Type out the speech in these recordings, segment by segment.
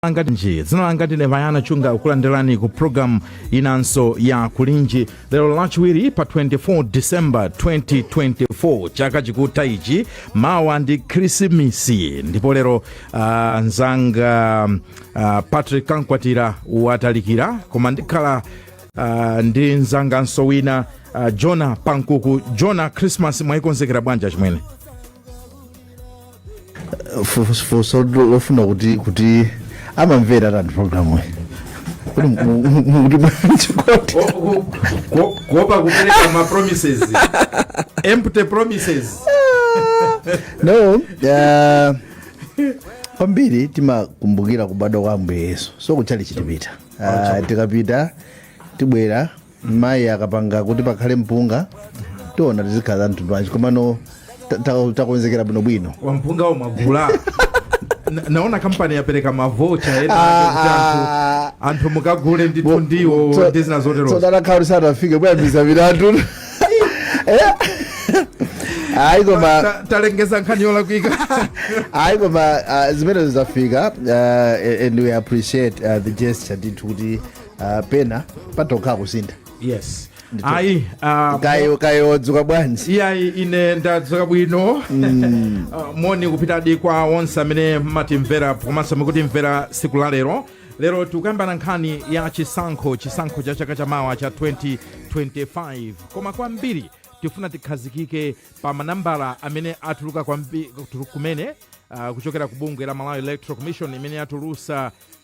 langa ndine dzina langa ndine vayana chunga ukulandirani ku programu inanso ya kulinji lero lachiwiri pa 24 december 2024 chaka chikutha ichi mawa ndi khrisimisi ndipo lero uh, nzanga uh, patrick kankwatira watalikira koma ndikhala uh, ndi nzanganso wina uh, jona pankuku jona christmas mwayikonzekera bwanji achimwene funso lofuna kuti kuti amamvera tani programu kodi mukuti bwanji kodi kuopa kupereka ma promises empty promises no uh, kwambiri timakumbukira kubadwa kwa ambuye yesu so kutchalitchi tipita uh, tikapita tibwera mayi akapanga kuti pakhale mpunga tiona zikhala za mtundu wanji komano ta- ta- takonzekera bwinobwino wa mpunga umagula Na- naona kampani yapereka mavocha ena ake kuti anthu- anthu mukagule ndithu ndiwo ndi zina zoterozo tsodana khauli sanafike kuyambisa milandu ayi koma Ta- talengeza nkhani yolakwika ayi koma ah, zimenezo zafika ah, and we appreciate ah, the gesture ndithu kuti ah, pena patokha kusintha yes Ndithu. ayi ah, kayo kayo wadzuka bwanji iyayi ine ndadzuka bwino uh, moni kupitadi kwa onse amene mmatimvera komanso mukutimvera tsiku la lero lero tikukambirana nkhani ya chisankho chisankho cha chaka chamawa cha 2025 koma kwambiri tifuna tikhazikike pa manambala amene atuluka kwambi- tulu- kumene uh, kuchokera ku bungwe la malawi electoral commission imene yatulutsa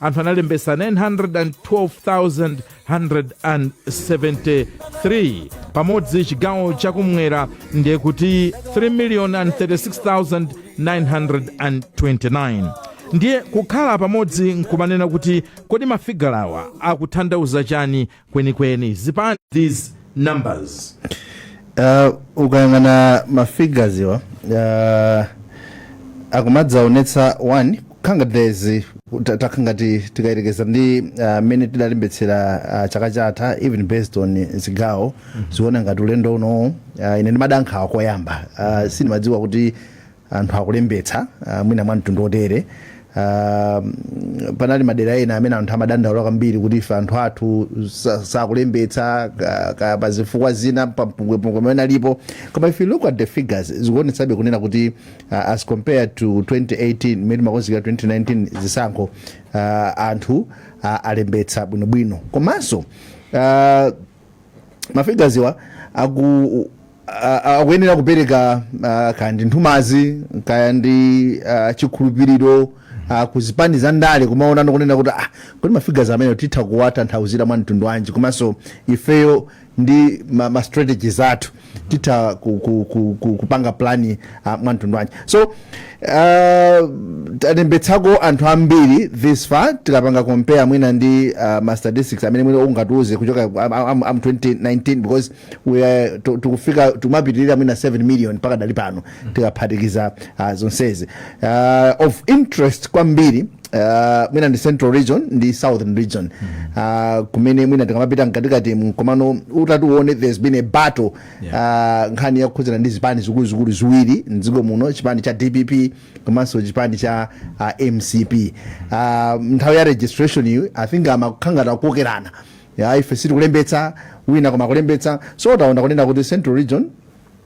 anthu analembesa 912,173 pamodzi chigawo chakumwera ndiye kuti 3,036,929 ndiye kukhala pamodzi nkumanena kuti kodi mafigala awa akutanthauza chani kwenikweni zipani these numbers Uh, ukayang'ana mafigures awa uh, akumadzaonetsa one khanga days ta- takhala ngati tikayerekeza ndi uh, mmene tidalembetsera uh, chaka chatha even based on zigawo uziona ngati ulendo uno uh, ine ndimada nkhawa koyamba uh, sindimadziwa kuti anthu akulembetsa ah, mwina mwa mtundu wotere Ah, mm, panali madera ena amene anthu amadandaula kwambiri kuti ife anthu athu sa- sakulembetsa ka- ka- pa zifukwa zina pampungwepungwe amene alipo koma if you look at the figures zikuonetsabe kunena kuti ah, as compared to 2018 mmene timakonzekera 2019 zisankho ah, anthu ah, alembetsa bwinobwino komanso ah, mafigazi awa aku a- a- akuyenera kupereka ah, kaya ndi nthumazi kaya ndi ah, chikhulupiriro ah, ku zipani za ndale kumaona kunena kuti ah, kodi mafigazi amene titha kuwatanthauzira mwa mtundu wanji komanso ifeyo ndi ma, ma strategies athu titha ku, ku, ku, ku, kupanga plani uh, mwa mtundu wanji so uh, talembetsako anthu ambiri this far tikapanga compare mwina ndi uh, ma statistics amene mwina ungatiuze kuchoka am, am, am 2019 because we are, tu- tikufika tikumapitirira mwina 7 million mpaka pakadali pano tikaphatikiza uh, zonsezi uh, of interest kwambiri Uh, mwina ndi central region ndi southern region uh, kumene mwina tikamapita mkatikati mkomano utati uwone there's been a battle uh, nkhani yakukhudzana ndi zipani zikuluzikulu ziwiri mdziko muno chipani cha dpp komanso chipani cha uh, mcp uh, nthawi ya registration iyo i think kumakhalangati kukokerana ya ife sitikulembetsa wina koma akulembetsa so taona kunena kuti central region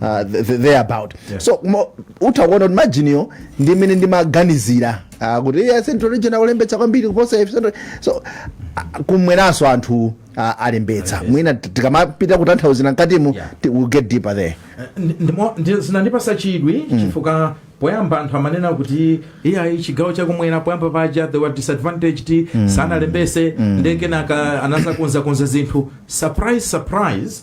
uh, th- th- there about Yeah. so mo- utha kuona kuti majiniyo ndi mmene ndimaganizira uh, kuti iye central region akulembetsa kwambiri kuposa ife Central- so uh, kumweranso anthu uh, alembetsa mwina t- tikamapita kutanthauzira mkatimo Yeah. ti- we'll get deeper there Ndi- ndimo- ndi- zinandipasa chidwi chifukwa poyamba anthu amanena kuti iyayi chigawo chakumwera poyamba paja they were disadvantaged sanalembetse nde kenaka anadzakonzakonza zinthu surprise surprise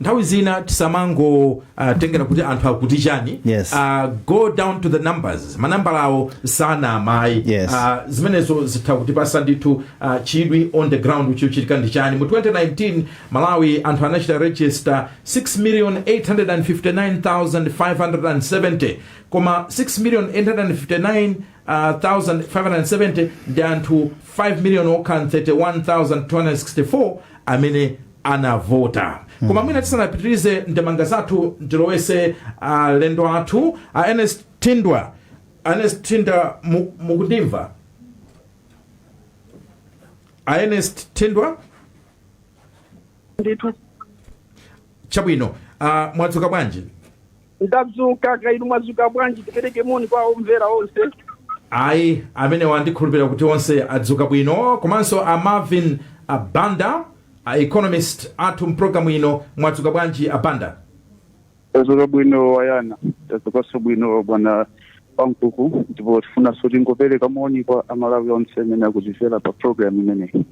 nthawi zina tisamangotengera kuti anthu akuti chani Yes. Ah, go down to the numbers manambalawo sanama ayi Yes. Ah, zimenezo zitha kutipatsa ndithu ah, chidwi on the ground chikuchitika ndi chani mu 2019 malawi anthu anachita register 6,859,570 koma 6,859 Uh, 1570 ndi anthu 5 million okha 31264 amene anavota koma mwina tisanapitirize ndi ndemanga zathu ndilowetse alendo athu a ernest thindwa ernest thindwa mu- mukundimva a ernest thindwa ndithu chabwino uh, mwadzuka bwanji Ndadzuka, kaya inu mwadzuka bwanji? Tipereke moni kwa omvera onse. Ayi, amenewo ndikhulupirira kuti onse adzuka bwino. Komanso a Marvin a Banda, a economist athu m'programu ino, mwadzuka bwanji a Banda? Tadzuka bwino a Yana. Tadzukanso bwino bwana Pankuku ndipo tifunanso tingopereka moni kwa Amalawi onse amene akutimvera pa programme imeneyi.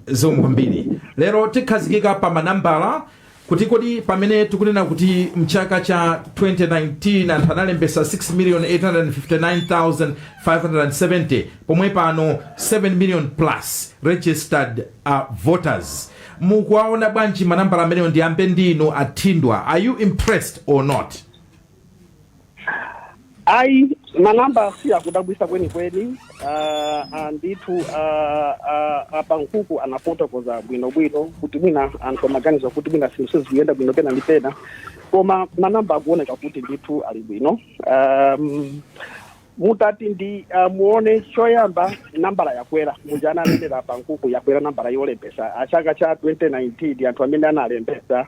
Zikomo kwambiri. Lero tikhazikika pa manambala. kuti kodi pamene tikunena kuti mchaka cha 2019 anthu analembesa 6,859,570 pomwe pano 7 million plus registered uh, voters mukuwaona bwanji manambala amenewo ndiyambe ndinu a Thindwa are you impressed or not ayi manamba si akudabwisa kwenikweni ah, ah, ndithu ah, ah, a Pankuku anafotokoza bwinobwino kuti mwina anthu amaganiza kuti mwina zinthu sizikuyenda bwino pena ndi pena koma manamba akuoneka kuti ndithu ali bwino um, mutati ndi uh, muone choyamba nambala yakwera muja ananenera a Pankuku yakwera nambala yolembesa ya chaka cha 2019 anthu amene analembesa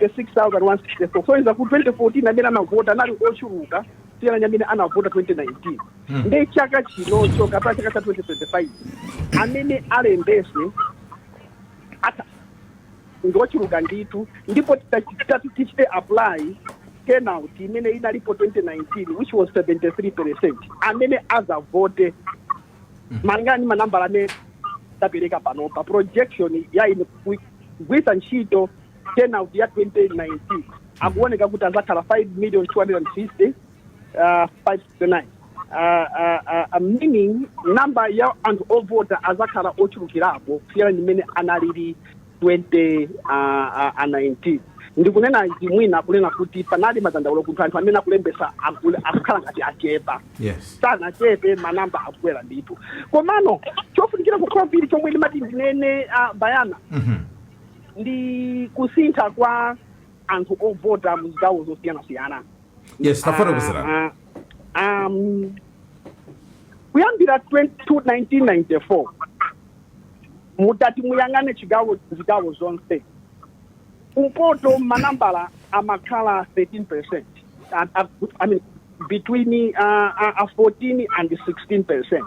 66164 soyeza ku 2014 amene anavota anali ochuluka kusiyana ndi amene anavota 2019 Hmm. nde chaka chinocho kapena chaka cha 2025 amene alembese ata ngochuluka ndithu ndipo titati tichite apply turnout imene inalipo 2019 which was 73 percent amene azavote malingana ndi manambala amene tapereka panopa projection ya ine kugwiritsa ntchito turnout ya 2019 akuoneka kuti azakhala 5 million 250 uh, 569 uh, uh, uh, meaning namba ya anthu ovota azakhala ochulukirapo kusiyana ndi mmene analili 20 uh, uh, uh, 19 ndikunena izi mwina kunena kuti panali madandaulo kuti anthu amene akulembesa akule- akukhala ngati achepa yes sanachepe manamba akukwera ndithu komano chofunikira kwambiri chomwe ndimati ndinene uh, bayana Mhm. ndi kusintha kwa anthu ovota mu zigawo zosiyanasiyana yes tafotokozerani Ah, ah, um, kuyambira 20 1994 mutati muyang'ane chiga- zigawo zonse kumpoto manambala amakhala 13 percent I, I mean, between uh, uh, 14 and 16 percent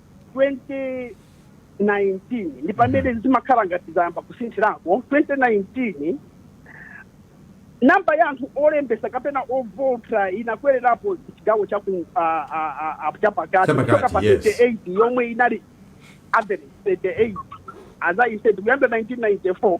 2019 ndi pamene zimakhala ngati zayamba kusinthirako 2019 namba ya anthu olembesa kapena ovota inakwererapo chigawo cha ku ah, ah, ah, ah, chapakati Chapakati, kuchoka pa yes. 38 yomwe inali average 38 as i said kuyambira 1994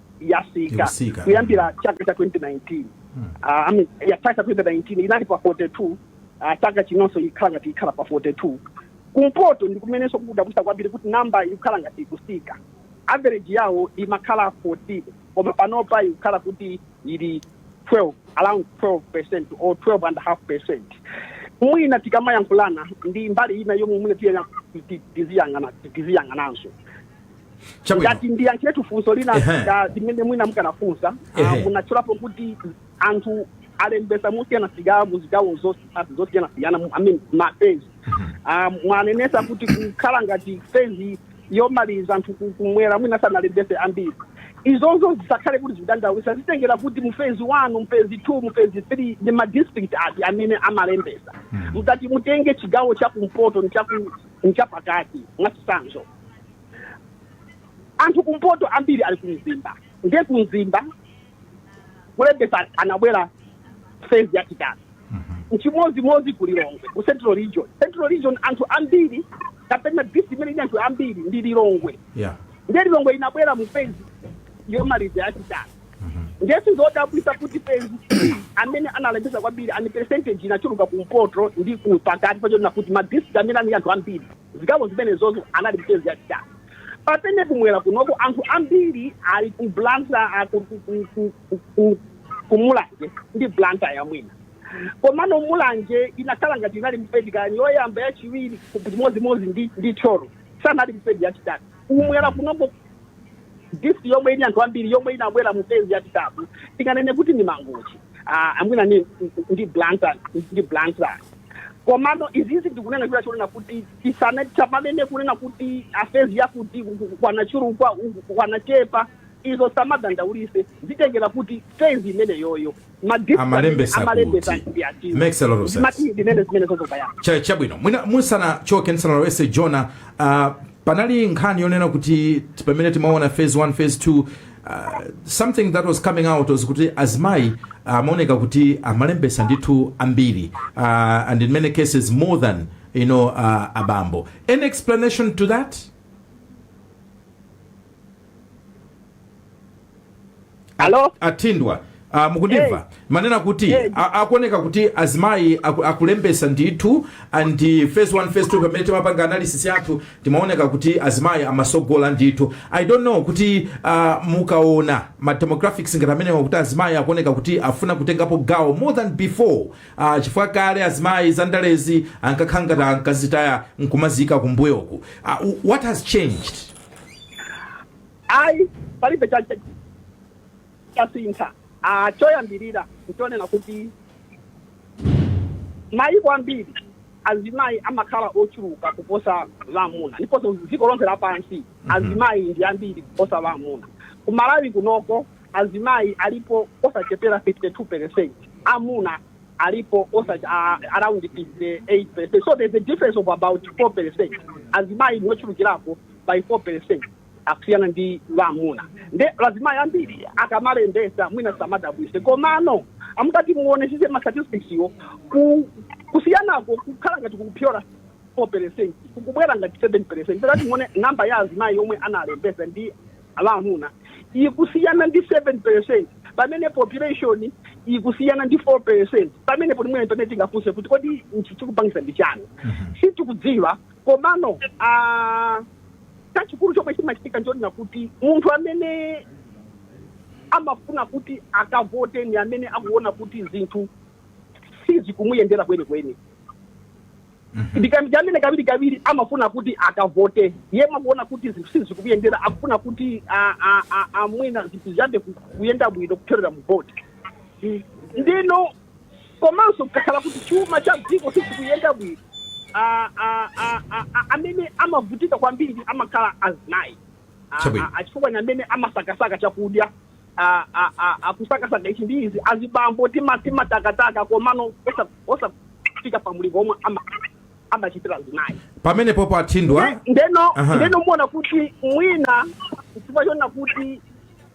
yatsika Ikutsika. kuyambira chaka cha 2019 Ah, I mean, ya chaka cha 2019 inali pa 42 ah, chaka chinonso ikhala ngati ikhala pa 42 kumpoto ndi kumenenso kukudabwitsa kwambiri kuti namba ikukhala ngati ikutsika average yawo imakhala 14 koma panopa ikukhala kuti ili 12 around 12 percent or 12 and a half percent mwina tikamayankhulana ndi mbali ina yomwe mwina tiyenera kuti tiziyang'ana tiziyang'ananso Chabwino. ngati ndiyankhiretu funso lina Ehe. limene mwina mukanafunsa ah, Ehe. munatchulapo kuti anthu alembesa mosiyanasiyana mu zigawo zos- zosiyanasiyana mu- I mean, mafezi Ah, mwanenesa kuti kukhala ngati fezi yomaliza anthu ku- kumwera mwina sanalembese ambiri izozo zisakhale kuti zidabwitsa zitengera kuti mu fezi one mu fezi two mu fezi three ndi madistrict ati amene amalembesa mutati mutenge chigawo cha kumpoto ndi chaku- ndi chapakati mwachitsanzo anthu kumpoto ambiri ali kumzimba ndiye kumzimba kulembesa anabwera fezi yachitatu nchimodzimodzi ku lilongwe ku central region central region anthu ambiri kapena district imene ili anthu ambiri ndi lilongwe yeah ndiye lilongwe inabwera mu fezi yomaliza yachitatu ndiye sizodabwisa kuti fezi amene analembesa kwambiri ali percentage inachuluka kumpoto ndi ku pakati pachifukwa chonena kuti madistrict amene ali anthu ambiri Zigawo zimenezozo anali mu fezi yachitatu pamene kumwera kunoko anthu ambiri ali ku blantyre ku mulanje ndi blantyre ya mwina komano mulanje inakhala ngati inali mu fezi kani yoyamba yachiwiri chimodzimodzi ndi ndi thyolo sanali mu fezi yachitatu kumwera kunoko district yomwe ili anthu ambiri yomwe inabwera mu fezi yachitatu tinganene kuti ndi mangochi ah, mwina ni ndi blantyre ndi blantyre komano izizi ndikunena chifukwa chonena kuti tisane tisamanene kunena kuti a fezi yakuti kwanachuluka kwanachepa izo zisamadandaulitse zitengera kuti fezi imeneyoyo madistrict Amalembesa amalembesa kuti. ndi ati Makes a lot of sense. Zimati ndinene zimene zozokayana Cha- chabwino mwina musanachoke ndisanalowetse jona uh, panali nkhani yonena kuti pamene timaona phase 1 phase 2 something that was coming out was kuti azimayi amaoneka kuti amalembesa ndithu ambiri uh, and in many cases more than you know uh, abambo any explanation to that Hello? atimva Uh, mukundimva hey. ndimanena kuti hey. akuoneka kuti azimayi aku, akulembesa ndithu and phase 1 phase 2 pamene timapanga analysis yathu timaoneka kuti azimayi amatsogola ndithu i don't know kuti uh, mukaona ma demographics ngati amenewa kuti azimayi akuoneka kuti afuna kutengapo gawo more than before uh, chifukwa kale azimayi zandalezi ankakhala ngati ankazitaya nkumaziika kumbuyoku uh, what has changed ai palibe chache chasintha. Choyambirira n'chonena kuti m'mayiko ambiri azimayi amakhala ochuluka kuposa amuna ndiponso dziko lonse lapansi azimayi ndi ambiri kuposa amuna. Ku Malawi kunoko azimayi alipo osachepera 52 peresenti, amuna alipo around 58 peresenti. So there's a difference of about 4 peresenti, azimayi ndi ochulukirako by 4 peresenti. akusiyana ndi amuna nde azimayi ambiri akamalembesa mwina samadabwise komano mukati muonesese ma statistics yo ku- kusiyanako kukhala ngati kukupyola 4 percent kukubwera ngati 7 percent mukati muone namba ya azimayi omwe analembesa ndi amuna ikusiyana ndi 7 percent pamene population ikusiyana ndi 4 percent pamene poti mwene pamene tingafunse kuti kodi nchomwe chikupangisa ndi chani sitikudziwa komano ah, Chachikulu chomwe chimachitika nchonena kuti munthu amene amafuna kuti akavote ni amene akuona kuti zinthu sizikumuyendera kwenikweni. Ndi amene kawirikawiri amafuna kuti akavote. Yemwe akuona kuti zinthu sizikumuyendera akufuna kuti a- a- a- a- mwina zinthu ziyambe ku- kuyenda bwino kupyolera mu vote. Ndeno Komanso kukakhala kuti chuma cha dziko sichikuyenda bwino, a, a, a, a, a, amene amavutika kwambiri amakhala azimayi a, a, Chabwino. a, chifukwa ndi amene amasakasaka chakudya a, a, a, a, kusakasaka ichi ndi ichi azibambo tima- timatakataka komano osa- osafika pa mulingo omwe ama- amachitira azimayi pamenepopo athindwa Nde- ndeno Aha. ndeno muona kuti mwina chifukwa chona kuti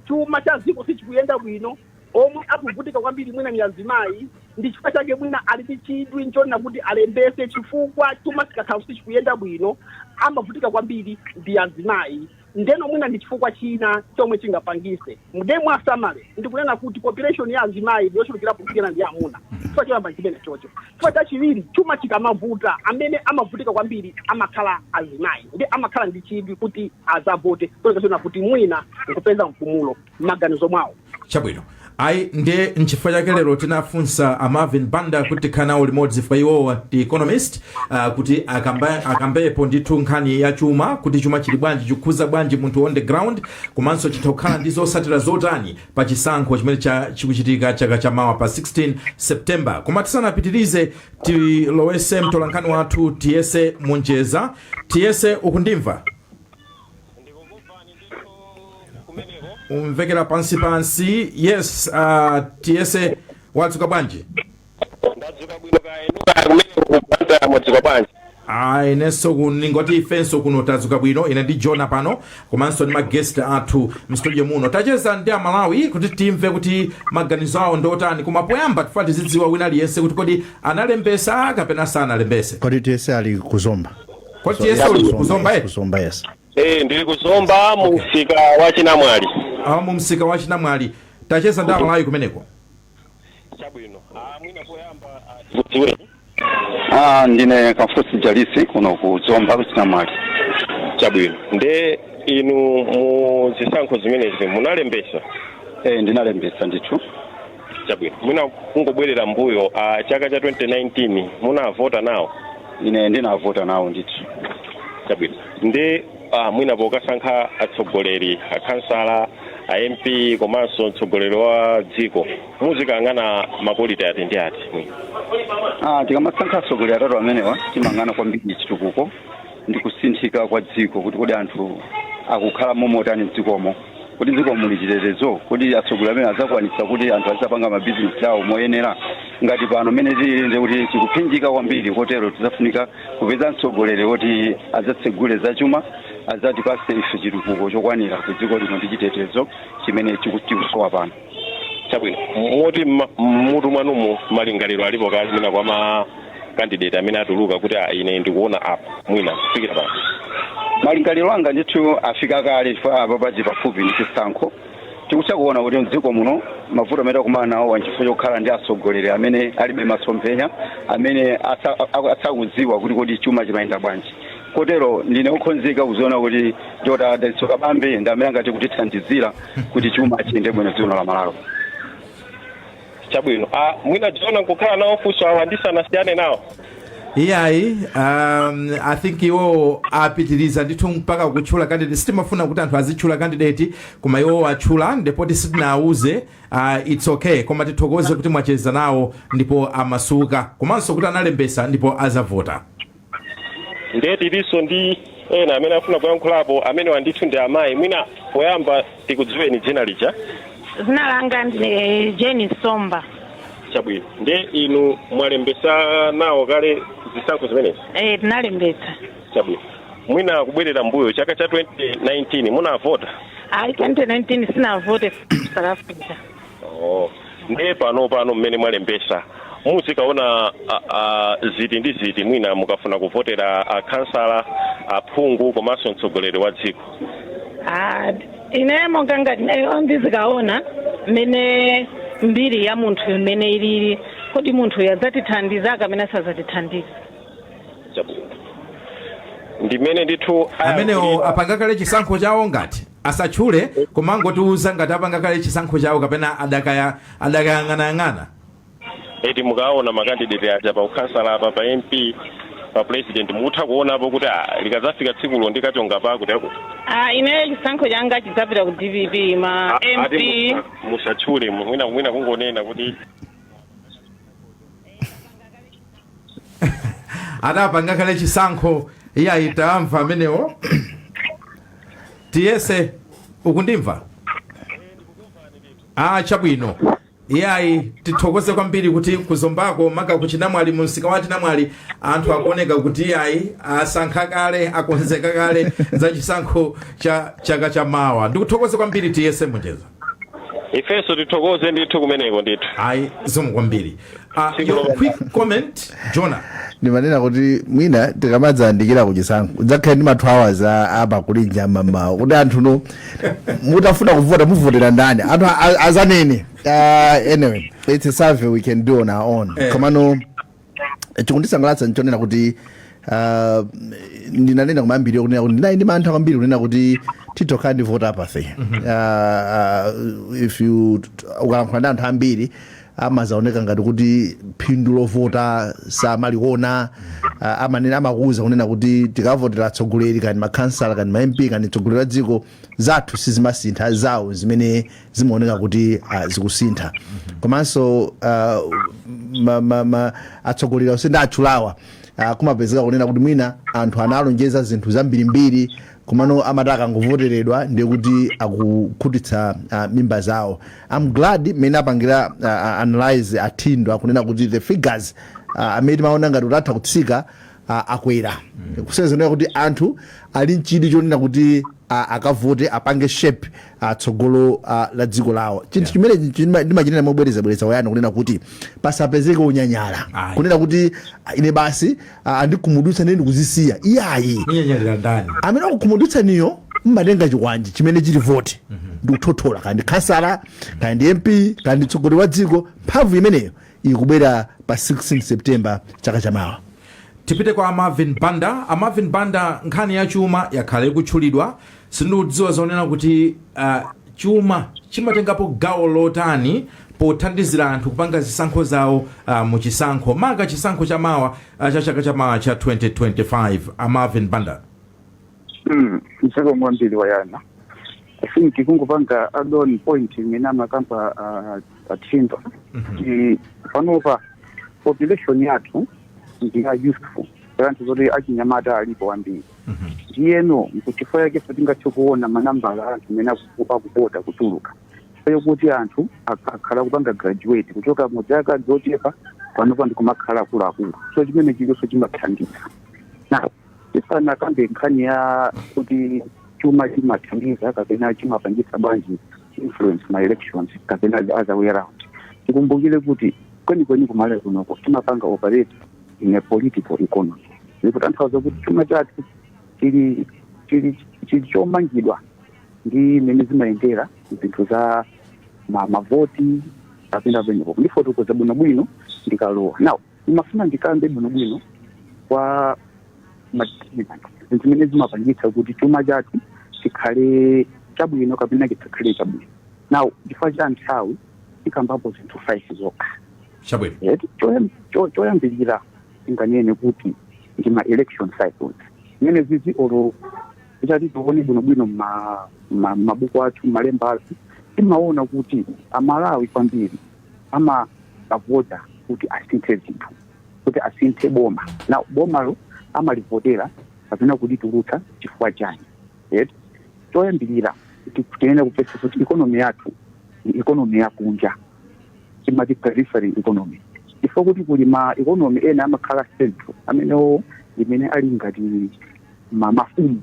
chuma cha dziko sichikuyenda bwino omwe akuvutika kwambiri mwina ndi azimayi ndi chifukwa chake mwina ali ndi chidwi nchonena kuti alembetse chifukwa chuma chikakhala kuti sichikuyenda bwino amavutika kwambiri ndi azimayi ndeno mwina ndi chifukwa china chomwe chingapangise ndemu summary ndikunena kuti population ya azimayi ndiyochulukirapo kusiyana ndi amuna chifukwa choyamba nchimenechocho chifukwa chachiwiri chuma chikamavuta amene amavutika kwambiri amakhala azimayi nde amakhala ndi chidwi kuti adzavote chifukwa choona kuti mwina nkupeza mpumulo m'maganizo mwawo chabwino ayi nde nchifukwa chake lero tinafunsa a marvin banda kuti tikhale nawo limodzi chifukwa iwowo ndi economist uh, kuti akamba- akambepo ndithu nkhani ya chuma kuti chuma chili bwanji chikukhuza bwanji munthu on the ground komanso chitha kukhala ndi zotsatira zotani pa chisankho chimene cha- chikuchitika chaka cha mawa pa 16 september koma tisanapitirize tilowese mtolankhani wathu tiyese munjeza tiyese ukundimva ndikukumvani ndithu kumeneko ukumvekera pansi pansi yes uh, tiyese wadzuka bwanji ndadzuka bwino kaya inu kumeneko mwadzuka bwanji ayi inenso ku- ndingoti ifenso kuno tadzuka bwino ine ndi jona pano komanso ndi ma guest athu mstudio muno tacheza ndi amalawi kuti timve kuti maganizo awo ndi otani koma poyamba tifuna tizidziwa wina aliyense kuti kodi analembesa kapena sanalembese kodi tiyese ali ku Zomba Kwa So, TSO yes, uli Kuzomba, kuzomba yes, eti? Kuzomba, yes. Eh, ndili kuzomba mu msika wa chinamwali Ah, mu msika wa chinamwali tacheza ndi amalawi kumeneko chabwino ah, mwina poyamba ah, dziweni Ah, ndine kafusi jalisi kuno ku zomba ku chinamwali chabwino nde inu mu zisankho zimenezi munalembesa eh, ndinalembesa ndithu chabwino mwina kungobwerera mbuyo a chaka cha 2019 munavota nawo ine ndinavota nawo ndithu chabwino nde ah, mwina pokasankha atsogoleri akhansala a mp komanso mtsogoleri wa dziko muzikayang'ana makoliti ati ndi ati mwina Ah, tikamasankha atsogoleri atatu amenewa timayang'ana kwambiri chitukuko ndi kusinthika kwa dziko kuti kodi anthu akukhala momotani mdzikomo kodi mdzikomo muli chitetezo kodi atsogoleri amene adzakwanitsa kuti anthu adzapanga mabizinesi awo moyenera ngati pano mmene tilili nde kuti tikuphinjika kwambiri kotero tidzafunika kupeza mtsogoleri woti adzatsegule zachuma adzatipase ife chitukuko chokwanira ku dziko lino ndi chitetezo chimene chiku- chikusowa pano chabwino moti mma- mmutu mwanumu malingaliro alipo kale mwina kwa ma kandideti amene atuluka kuti ah, ine ndikuona apa mwina kufikira pano malingaliro anga ndithu afika kale chifukwa apa pati pafupi ndi chisankho tikutha kuona kuti mdziko muno mavuto amene takumana nawo wa nchifukwa chokhala ndi atsogoleri amene alibe masomphenya amene asa- aku- asakudziwa kuti kodi chuma chimayenda bwanji kotero ndine okhonzeka kuziona kuti dr dalitso kabambe ndi amene angati kutithandizira kuti chuma chiyende bwino dziko la malawi chabwino ah, mwina jona mkukhala nawo funso awa ndisanasiyane nawo iyayi um, i think iwo apitiriza ndithu mpaka kutchula candidate sitimafuna kuti anthu azitchula candidate koma iwo atchula ndipotu sitinawauze uh, its okay koma tithokoze kuti mwacheza nawo ndipo amasuka komanso kuti analembesa ndipo azavota ndiye tilinso ndi ena amene afuna kuyankhulapo amenewa ndithu ndi amayi mwina poyamba tikudziweni dzina lija dzina langa ndine jeni somba chabwino ndiye inu mwalembesa nawo kale zisankho zimenezi eh, tinalembetsa chabwino mwina kubwerera mbuyo chaka cha 2019 munavota ayi 2019 sinavote south africa Oh. ndiye pano pano mmene mwalembesa muzikaona a- a, ziti ndi ziti mwina mukafuna kuvotera akhansala aphungu komanso mtsogoleri wa dziko Ah, ine monga ngati nayo ndizikaona mmene mbiri ya munthu imene ilili kodi munthuyo adzatithandiza kapena sadzatithandiza Chabwino. ndimene ndithu amenewo apanga kale chisankho chawo ngati asatchule komangotiuza ngati apanga kale chisankho chawo kapena adakaya adakayang'anayang'ana eti mukaona makandidate aja pa ukhansala apa pa mp pa president mukutha kuonapo kuti ah, likadzafika tsikulo ndikachonga pakuti akuti Ah, ineyo chisankho changa chidzapita ku dpp ma Ah, mp ati musa- musatchule mwina mwina kungonena kuti adapanga kale chisankho iyayi tawamva amenewo tiyese ukundimva ah chabwino iyayi tithokoze kwambiri kuti kuzombako maka kuchinamwali mu msika wa chinamwali anthu akuoneka kuti iyayi asankha kale akonzeka kale za chisankho cha chaka cha mawa ndikuthokoze kwambiri tiyese Monjeza ifenso tithokoze ndithu kumeneko ndithu ayi zikomo kwambiri uh, your quick comment jona ndimanena kuti mwina tikamadzayandikira kuchisankho kudzakhale ndi ma 2 hours a- apa kulinja mamawa kuti anthu inu mutafuna kuvota muvotera ndani anthu a- a- azanene uh, anyway it's a survey we can do on our own Eh. komano chikundisangalatsa nchonena kuti ah, ndinanena kumayambiriro kunena kuti ndinali ndi mantha kwambiri kunena kuti titokhala ndi vote apathy Ah, ah, if you ukalankhula ndi anthu ambiri amazaoneka ngati kuti phindu lovota samaliona ah, amanena amakuuza kunena kuti tikavotera atsogoleri kani makhansala kani ma mp kani atsogoleri a dziko zathu sizimasintha zawo zimene zimaoneka kuti ah, zikusintha komanso ah, ma- ma- ma- atsogoleri onse nditchulawa ah, kumapezeka kunena kuti mwina anthu analonjeza zinthu zambirimbiri komano amati akangovoteredwa ndiye kuti akukhutitsa ah, mimba zawo am glad mmene apangira ah, ah, analyze a Thindwa akunena kuti the figures ah, amene timaona ngati atatha kutsika a- akwera kusonyeza kuti anthu ali nchidwi chonena kuti a- akavote apange shape a, tsogolo a, la dziko lawo chinthu chimene chima- ndimachinena mobwerezabwereza Wayne kunena kuti pasapezeke unyanyala Ayi. kunena kuti a, ine basi a, andikhumudwitsa ndine ndikuzisiya iyayi munyanyalira ndani amene akukhumudwitsaniyo mmatenga chikwanje chimene chili voti ndikuthothola kani khansala kani mp kani mtsogoleri wa dziko mphamvu imeneyo ikubwera pa 16 September chaka chamawa. Tipite kwa a Marvin Banda. A Marvin Banda, nkhani ya chuma yakhala ikutchulidwa. Sindikudziwa zonena kuti uh, chuma chimatengapo gawo lotani pothandizira anthu kupanga zisankho zawo uh, mu chisankho maka chisankho chamawa uh, cha chaka chamawa cha 2025. A Marvin Banda. Mm, zikomo kwambiri wayana i think kungopanga add on point imene amakamba uh, a Thindwa kuti panopa population yathu ndi ya youthful anthu zoti achinyamata alipo ambiri ndiyeno nchifukwa chake sitingathe kuona manambala a anthu amene aku- akuvota kutuluka ayo kuti anthu ak- akhala akupanga graduate kuchoka mu zaka zochepa panopa ndikumakhala akuluakulu so chimene chilinso chimathandiza now tisanakambe nkhani ya kuti chuma chimathandiza kapena chimapangitsa bwanji influence ma elections kapena the other way around tikumbukire kuti kwenikweni kumalawi kunoko timapanga operate in a political economy zikutanthauza kuti chuma chathu chili chili chili chomangidwa ndi mmene zimayendera zinthu za ma- mavoti kapena penepo ndifotokoza bwinobwino ndikalowa now Ndimafuna ndikambe bwinobwino kwa madeterminant zinthu zimene zimapangitsa kuti chuma chathu chikhale chabwino kapena chisakhale chabwino. Now chifukwa cha nthawi tikambapo zinthu 5 zokha. Chabwino. Eh, choyam- cho- choyambirira tinganene kuti ndi ma election cycles zimene izizi olo titati tione bwinobwino mma- mma- mmabuku athu mmalemba athu timaona kuti amalawi kwambiri amavota kuti asinthe zinthu kuti asinthe boma now bomalo amalivotera kapena kulitulutsa chifukwa chani right? choyambirira tiyenera kumvetsa kuti ikonomi yathu ndi ikonomi yakunja timati periphery economy chifukwa kuti kuli ma economy ena amakhala central amenewo amene ali ngati ma- mafumu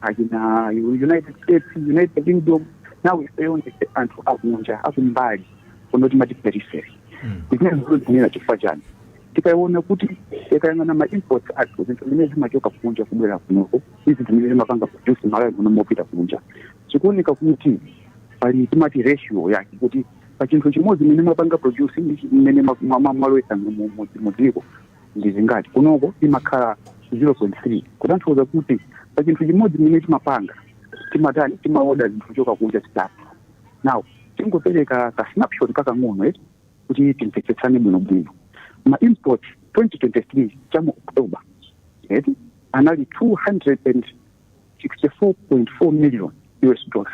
achina united states united kingdom now ifeyo ndife anthu akunja akumbali kuno timati periphery Mm. zimenezi ndikuzinena chifukwa chani tikaona kuti tikayang'ana ma imports athu zinthu zimene zimachoka kunja kubwera kunoko ndi zimene timapanga produce malawi muno mkupita kunja zikuoneka kuti pali timati ratio yake kuti pa chinthu chimodzi chimene mwapanga produce ndi chimene mwalowetsa mu dziko ndi zingati kunoko imakhala 0.3 kutanthauza kuti pa chinthu chimodzi chimene timapanga timatani timaoda zinthu kuchoka kunja zitatu now tingopereka ka snapshot kakang'ono eti kuti timvetsetsane bwinobwino ma import 2023 cha mu october eti anali 264.4 million us dollars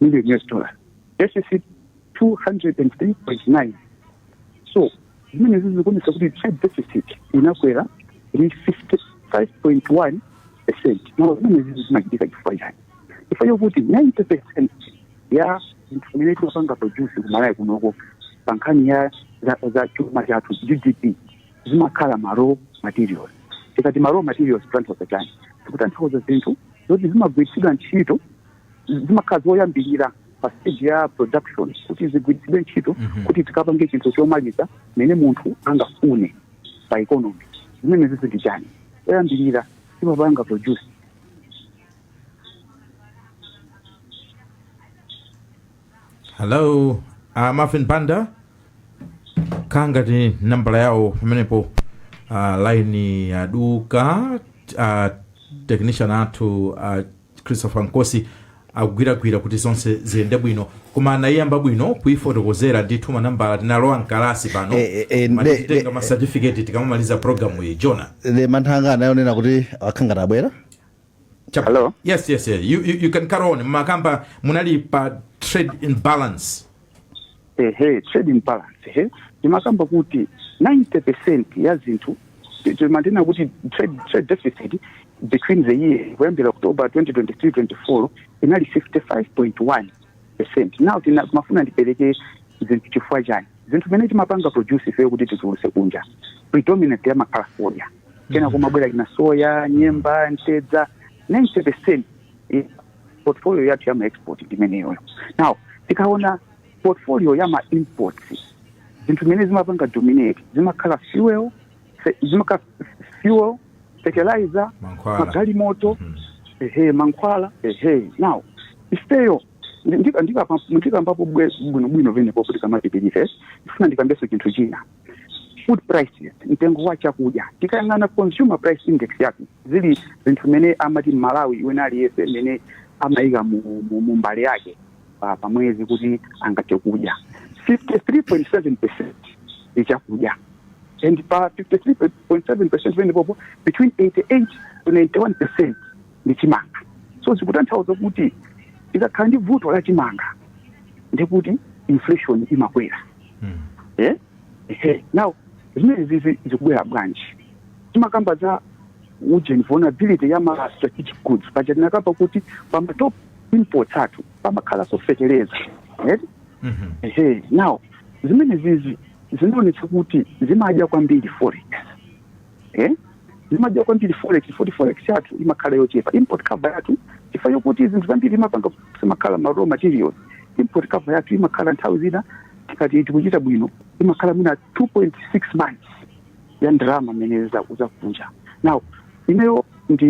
million US dollar deficit 203.9 so zimenezi zikuonetsa kuti trade deficit inakwera ndi 55.1 percent now zimenezi zimachitika chifukwa chani chifukwa chokuti 90 percent ya zinthu zimene timapanga produce kumalawi kunoko pa nkhani ya za, za chuma chathu gdp zimakhala ma raw materials tikati ma raw materials kutanthauza chani tikutanthauza zinthu zoti zimagwiritsidwa ntchito zimakhala zoyambirira pa stage ya production kuti zigwiritsidwe ntchito Mhm. kuti tikapange chinthu chomaliza mene munthu angafune pa economy zimene zizi ndi chani zoyambirira timapanga produce hello uh, marvin banda kangati nambala yawo pamenepo uh, line yaduka uh, technician athu uh, Christopher Nkosi akugwiragwira kuti zonse ziyende bwino koma anayiyamba bwino kuyifotokozera ndithu manambala tinalowa mkalasi pano Eh, eh, eh, Mati ne- titenga ne- ma certificate tikamamaliza programu iyi Jonathan manthanga anayonena kuti akhala atabwera Chap- Hello? yes yes yes you, you, you can carry on makamba munali pa trade imbalance ehe trade imbalance ehe timakamba kuti 90 percent ya zinthu ti- timanena kuti trade, trade deficit between the year kuyambira october 2023 24 inali 55.1 percent now tina- timafuna ndipereke zinthu chifukwa chani zinthu zimene timapanga produce ifeyo kuti tizigulitsa kunja predominantly amakhala fodya kena kumabwera kina soya nyemba mtedza 90 percent portfolio yathu ya ma export ndi imeneyoyo now tikaona portfolio ya ma imports zinthu zimene zimapanga dominate zimakhala fuel fe- zimakhala fuel fertilizer Mankhwala. magalimoto Mhm. ehe mankhwala ehe now ifeyo ndi- ndika- ndikapa- ndikamba bwe- bwinobwino penepo kuti tikamapitiriza ndifuna ndikambeso chinthu china food prices mtengo wa chakudya tikayang'ana consumer price index yake zili zinthu imene amati mmalawi wina aliyense imene amayika mu, mu, mu mbale yake pa, pa mwezi kuti azitha kudya 53.7 percent ndi chakudya and pa 53.7 percent penepopo between 88 to 91 percent ndi chimanga so zikutanthauza kuti tikakhala ndi vuto la chimanga ndikuti inflation imakwera eh? Ehe. now zimenezi zi- zikubwera bwanji timakamba za ujeni vulnerability ya ma strategic goods paja tinakamba kuti pa ma top imports athu pamakhalanso fetereza right? ehe now zimenezizi zinaonetsa kuti zimadya kwambiri forex eh? zimadya kwambiri forex futi forex yathu imakhala yochepa import cover yathu chifukwa yokuti zinthu zambiri timapanga zimakhala ma raw materials import cover yathu imakhala nthawi zina tikati tikuchita bwino imakhala mwina 2.6 months ya ndalama mmene za- zakunja now ineyo ndi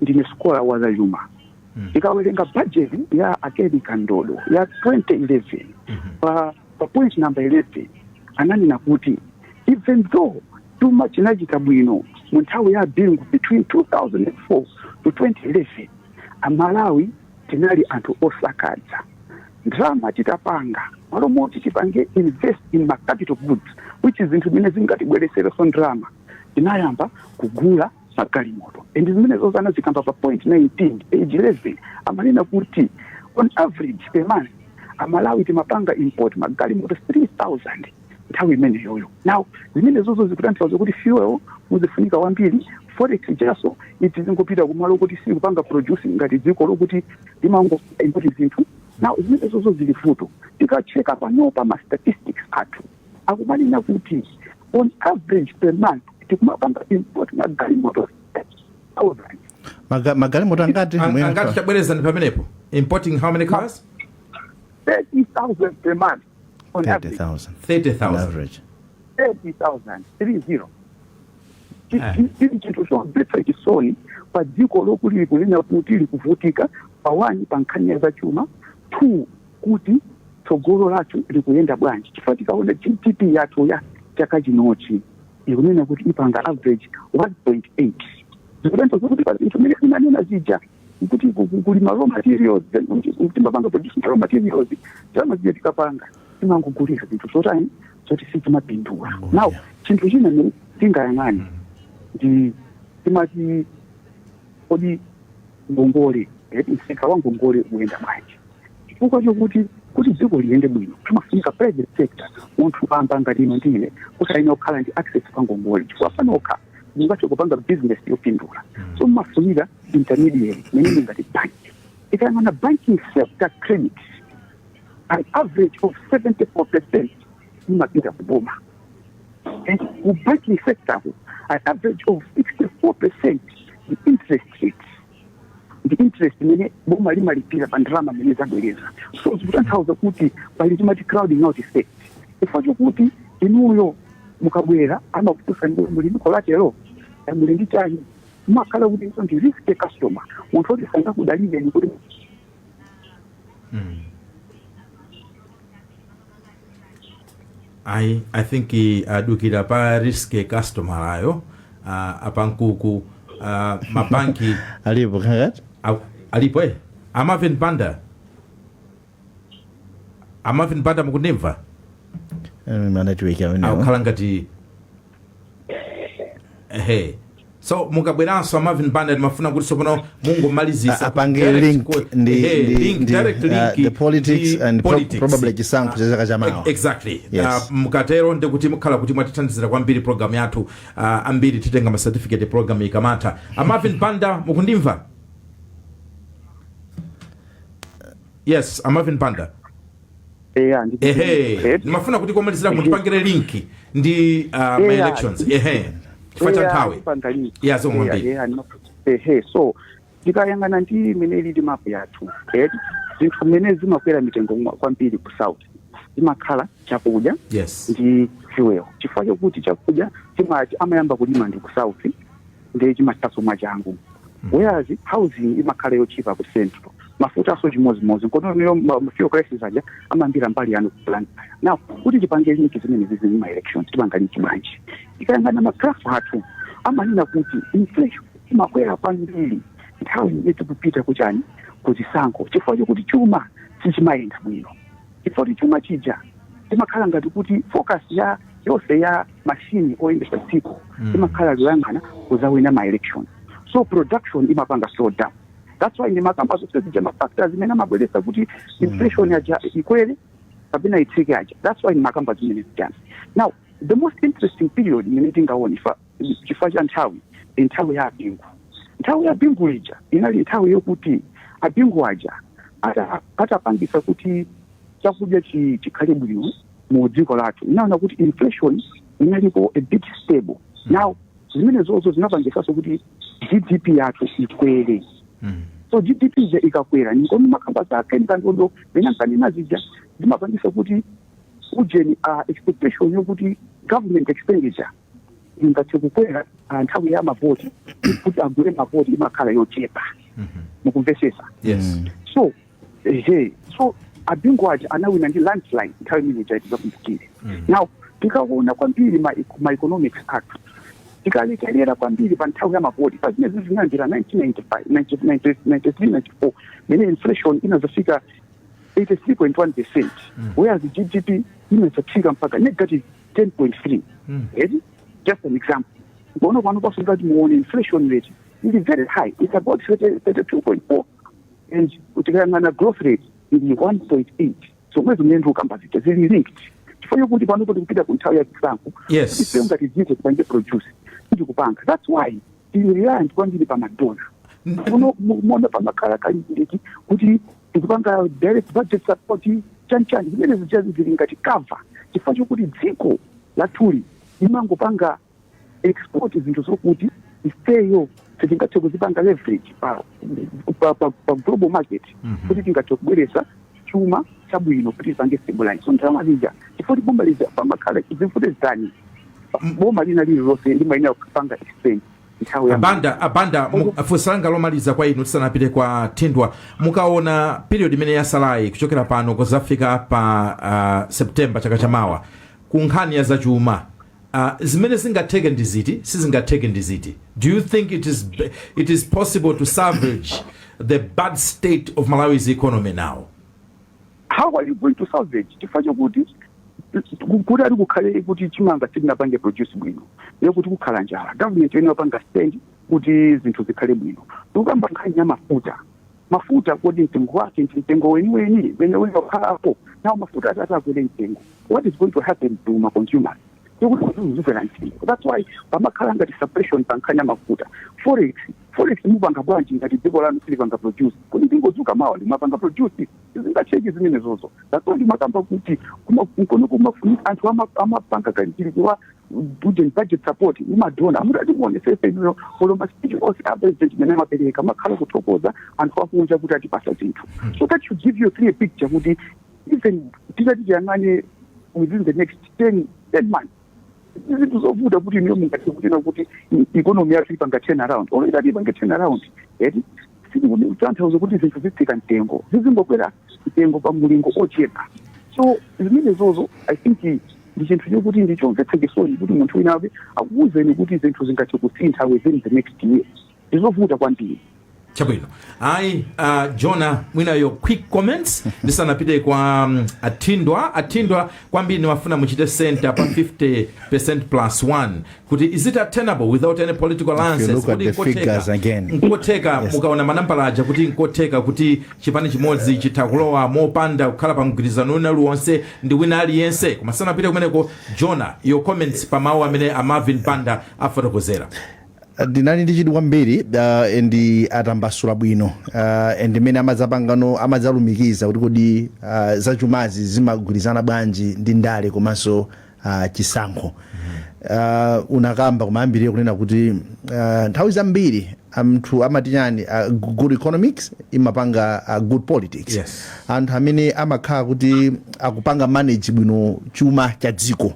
ndine scholar wa zachuma Mm. tikawerenga budget ya a Ken Kandodo ya 2011 pa, pa point number 11 ananena kuti Even though chuma chinachita bwino mu nthawi ya Bingu between 2004 to 2011 amalawi tinali anthu osakaza ndalama tikapanga mmalo moti tipange invest in ma capital goods which is zinthu zimene zingatibweretserenso ndalama tinayamba kugula magalimoto and zimenezozo anazikamba pa point 19 page 11 amanena kuti on average per month amalawi timapanga import magalimoto 3000 nthawi imeneyoyo now zimenezozo zikutanthauza kuti fuel uzifunika wambiri forex yathu izingopita kumalo okuti sitikupanga produce ngati dziko lokuti limango import zinthu now zimenezozo zili vuto tikatcheka panopa ma statistics athu akumanena kuti on average per month tikumapanga import magalimoto 30000 Maga- magalimoto angati An- Muyanga. angati tabwerezani pamenepo importing how many cars 30000 per month on average 30000 30000 average 30000 30 Ah. chiri chinthu chomvetsa chisoni pa dziko lokutili kunena kuti likuvutika pa one pa nkhani ya zachuma two kuti tsogolo lathu likuyenda bwanji chifukwa tikaona GDP yathu ya chaka chinochi ikunena kuti ipanga average 1.8 zikutanthauza kuti pa zinthu zimene timanena zija kuti ku- ku- kulima raw materials then kuti- kuti timapanga produce ma raw materials ndalama zija tikapanga timangogulira zinthu zotani zoti sizimapindula now chinthu china chimene tingayang'ane ndi timati kodi ngongole eti msika wa ngongole ukuyenda bwanji chifukwa chokuti kuti dziko liyende bwino timafunika private sector munthu wamba ngati inu ndi ine kuti tiyenera kukhala ndi access kwa ngongole chifukwa panokha simungathe kupanga business yopindula so mumafunika intermediary meaning ngati bank tikayang'ana banking sector credit an average of 74 percent imapita kuboma and ku banking sector ku an average of 64 percent ndi interest rate ndi interest imene boma limalipira pa ndalama imene labwereka so zikutanthauza kuti pali timati crowding out effect chifukwa chokuti inuyo mukabwera amakufunsani muli ndi collateral eh, muli ndi chani mumakhala kuti ndi risky customer munthu woti sangakudalireni kuti mm. I, I think uh, adukira pa risk customer ayo uh, apankuku uh, mabanki alipo kakati a- alipo eh? amavin banda amavin banda mukundimva Eh, manetiweki amenewo akukhala ngati ehe so mukabweranso a Marvin Banda ndimafuna kuti sopano mungomalizisa apange direct link ku- ndi, ehe, ndi, link, ndi direct uh, link the politics ndi and pro- politics. probably chisankho cha chaka cha mawa Ex- exactly Yes. uh, mukatero ndikuti mukhala kuti mwatithandizira kwambiri program yathu uh, ambiri titenga ma certificate program ikamatha a Marvin Banda mukundimva yes a Marvin Banda eya ndi ehe diplomated. ndimafuna kuti komalizira mutipangire link ndi uh, ma Yeah. elections ehe chifukwa cha Eya, nthawi ndipanga link. Yeah, zomwe Eya, mbiri. eya, ndima- ehe so tikayang'ana ndi imene ili map yathu eh, zinthu zimene zimakwera mitengo mwa- kwambiri ku south zimakhala chakudya yes ndi fuel chifukwa chokuti chakudya chimati amayamba kulima ndi ku south ndiye chimathanso mwachangu whereas housing imakhala yotchipa ku central mafutanso chimodzimodzi nkono fuel crisis aja amambira mbali yanu plan now kuti tipange linki zimene zizi ndi ma elections tipanga linki bwanji tikayang'ana ma graph athu amanena kuti inflation imakwera kwambiri nthawi imene tikupita kuchani kuzisankho chifukwa chokuti chuma sichimayenda bwino chifukwa kuti chuma chija timakhala ngati kuti focus yonse ya machine oyendesa dziko mm. imakhala yoyang'ana kuzawina ma election so production imapanga slow down that's why ndimakamba zonse zija ma factors amene amabweresa kuti mm. inflation aja ikwere kapena itsike aja that's why ndimakamba zimene zijazi now the most interesting period imene tingaone chifukwa cha nthawi ndi nthawi ya a Bingu nthawi ya Bingu ija inali nthawi yokuti a Bingu aja atapangisa kuti chakudya chi- chikhale bwino mu dziko lathu inaona kuti inflation inalipo a bit stable now zimenezozo zinapangisanso kuti gdp yathu ikwere Mm. so gdp ija ikakwera nikono makamba zake ndikandodo pena nkanena zija zimapangisa kuti ujeni uh, expectation yokuti government expenditure ingathe kukwera uh, nthawi ya mavoti kuti agule mavoti imakhala yochepa mukumvesesa yes so ehe so a Bingu aja anawina ndi landslide nthawi imene ija tikakumbukira now tikaona kwambiri ma, ma economics athu tikalekerera kwambiri pa nthawi ya mavoti pa zimene zimene zinayambira 1993 mene inflation inazafika 83.1 percent whereas gdp inazafika mpaka negative 10.3 eti just an example onani panopaso ngati muone inflation rate ili very high it's about 32.4 and tikayang'ana growth rate ili 1.8 zomwe zimene ndikukamba zija zili linked chifukwa chokuti panopo tikupita ku nthawi ya chisankho Yes. ife ngati dziko tipange produce tikupanga that's why tili reliant kwambiri pa madona kuno muona pamakhala kalibireti kuti tikupanga direct budget support chanchani zimene zijazi zili ngati cover-up chifukwa chokuti dziko lathuli limangopanga export zinthu zokuti ifeyo sitingathe kuzipanga leverage pa, pa, pa, pa global market Mhm. kuti tingathe kubweretsa chuma chabwino kuti tipange stabilize so ndalama zija chifukwa kuti boma lija pamakhala zimfute zitani boma lina lililonse limayenera kupanga expense nthawi ya abanda abanda mu- funso langa lomaliza kwa inu tisanapite kwa thindwa mukaona period imene yatsalayi kuchokera pano kudzafika pa uh, september chaka chamawa ku nkhani ya zachuma Uh, zimene zingatheke ndi ziti sizingatheke ndi ziti do you think it is, b- it is possible to salvage the bad state of malawi's economy now how are you going to salvage chifukwa chokuti kuti ati kukhale kuti chimanga sitinapange produce bwino ndiye kuti kukhala njala government iyenera upanga stand kuti zinthu zikhale bwino tikukamba nkhani ya mafuta Mafuta, kodi mtengo wake ndi mtengo weniweni umene uli okhalapo? Nawo mafuta atati akwere mtengo, what is going to happen to ma consumers? Si kuti zizikwera mtengo. That's why pamakhala ngati suppression pa nkhani ya mafuta. Forex, forex mupanga bwanji ngati dziko lanu silipanga produce? Kodi ndingodzuka mawa n'kumapanga produce? Sizingatheke zimenezozo. That's why ndimakamba kuti kuma- kuno kumafunika anthu ama- amapanga kalikiliki pa direct budget support ya madona mutati muonetsetse inuyo olo maspeech onse a president mene amapereka amakhala akuthokoza anthu akunja kuti atipatsa zinthu so that should give you a clear picture kuti even titati tiyang'ane within the next 10 10 months zinthu zovuta kuti inuyo mungathe kunena kuti i- economy yathu ipanga turn around olo itati ipange turn around eti sikutanthauza kuti zinthu zitsika mtengo zizingokwera mtengo pa mulingo ochepa so zimenezozo i think Ndi chinthu chokuti ndi chomvetsa chisoni kuti munthu wina wake akuuzeni kuti zinthu zingathe kusintha within the next year. Ndi zovuta kwambiri. Chabwino. Ayi, a Jona mwina your quick comments ndisanapite kwa um, Athindwa. Athindwa kwambiri ndikufuna muchite center pa 50% plus 1 kuti is it attainable without any political alliances kuti nkotheka nkotheka yes. mukaona manambala aja kuti nkotheka kuti chipani chimodzi chitha kulowa mopanda kukhala pa mgwirizano wina uliwonse ndi wina aliyense koma tisanapite kumeneko jona your comments pa mawu amene a marvin banda afotokozera ndinali ndi chidwi kwambiri uh, ndipo atambasula bwino uh, and mmene amadzapangano amadzalumikiza kuti kodi uh, zachumazi zimagwirizana bwanji ndi ndale komanso uh, chisankho uh, unakamba kumayambirire kunena kuti uh, nthawi zambiri anthu amati chani uh, good economics imapanga uh, good politics Yes. anthu amene amakhala kuti akupanga manage bwino chuma cha dziko uh,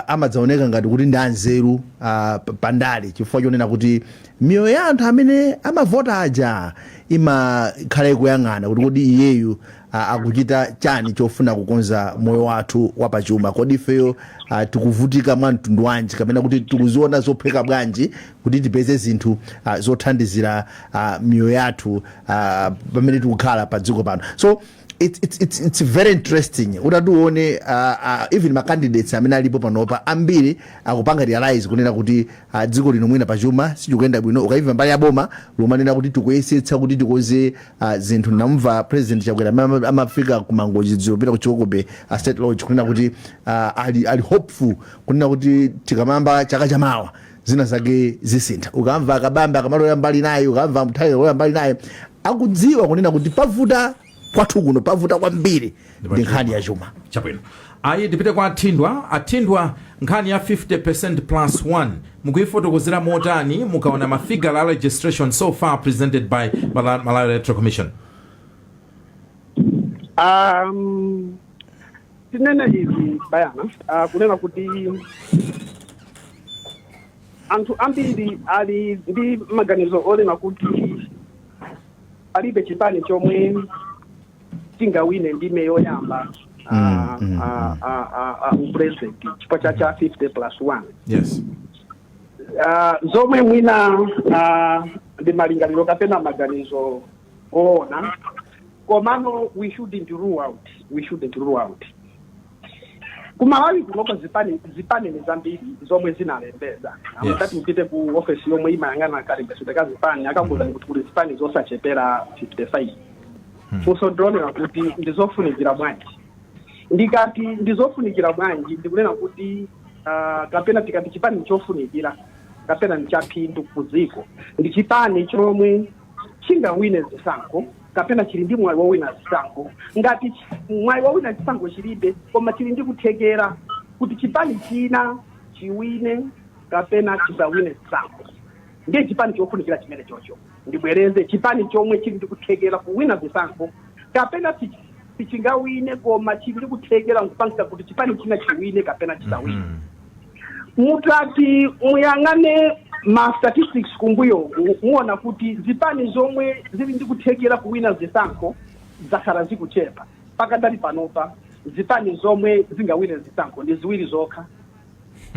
amadzaoneka ngati kuti ndi anzeru uh, pa- pandale chifukwa chonena kuti miyoyo ya anthu amene amavota aja imakhala ikuyang'ana kuti kodi iyeyu a- akuchita chani chofuna kukonza moyo wathu wapachuma kodi ifeyo ah, tikuvutika mwa mtundu wanji kapena kuti tikuziona zophweka bwanji kuti tipeze zinthu ah, zothandizira ah, miyoyo yathu ah, pamene tikukhala pa dziko pano so it's, it's, it's, it's very interesting utati uone uh, uh, even macandidates amene alipo panopa ambiri akupanga realize kunena kuti uh, dziko lino mwina pachuma sizikuyenda bwino ukaimva mbali ya boma likumanena kuti tikuyesetsa kuti tikonze a zinthu namva president chakwera amene ama- amafika ku mangochi dzulo kupita ku Chikoko Bay state lodge kunena kuti ah, ali, ali hopeful kunena kuti tikamayamba chaka chamawa zina zake zisintha ukamva a Kabambe akumalowera mbali naye ukamva Mtharika alowera mbali naye akudziwa kunena kuti pavuta kwathu kuno pavuta kwambiri ndi nkhani ya chuma chabwino ayi tipite kwa athindwa athindwa nkhani ya 50 percent plus 1 mukuyifotokozera motani mukaona mafigure a registration so far presented by Mala- malawi electoral commission um, tinene izi bayana uh, kunena kuti anthu ambiri ali ndi maganizo onena kuti palibe chipani chomwe chingawine ndime yoyamba Mm, ah, mm, ah, ah, ah, ah, upresident chifukwa cha cha 50 plus 1 yes Ah, zomwe mwina ah, ndi malingaliro kapena maganizo oona komano we shouldn't rule out we shouldn't rule out kumalawi kunoko zipani zipani ndi zambiri zomwe zinalembeza Yes. mutati mupite ku ofesi yomwe imayang'ana kalembetsedwe ka zipani akakuuzani kuti kuli zipani zosachepera 55 funso ndilonena kuti ndizofunikira bwanji ndikati ndizofunikira bwanji ndikunena kuti ah, kapena tikati chipani chofunikira kapena ndichaphindu ku dziko ndi chipani chomwe chingawine zisankho kapena chili ndi mwayi wowina zisankho ngati chi- mwayi wowina chisankho chilibe koma chili ndi kuthekera kuti chipani china chiwine kapena chisawine zisankho ndiye chipani chofunikira chimene chocho ndibwereze chipani chomwe chili ndi kuthekera kuwina zisankho kapena si- sichingawine koma chili ndi kuthekera nkupangitsa kuti chipani china chiwine kapena chisawine Mhm. mutati muyang'ane ma statistics kumbuyoku muona kuti zipani zomwe zili ndi kuthekera kuwina zisankho zakhala zikuchepa pakadali panopa zipani zomwe zingawine zisankho ndi ziwiri zokha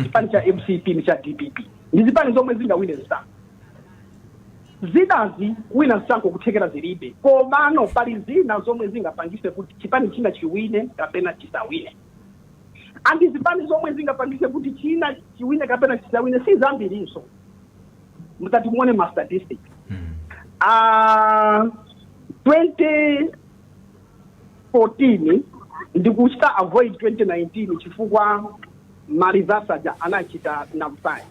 chipani cha mcp ndi cha dpp ndi zipani zomwe zingawine zisankho zinazi kuwina zisankho kuthekera zilibe komano pali zina zomwe zingapangise kuti chipani china chiwine kapena chisawine andi zipani zomwe zingapangise kuti china chiwine kapena chisawine si zambirinso mutati muone ma statistic Ah, 2014 ndikuchita avoid 2019 chifukwa ma results aja anachita nullify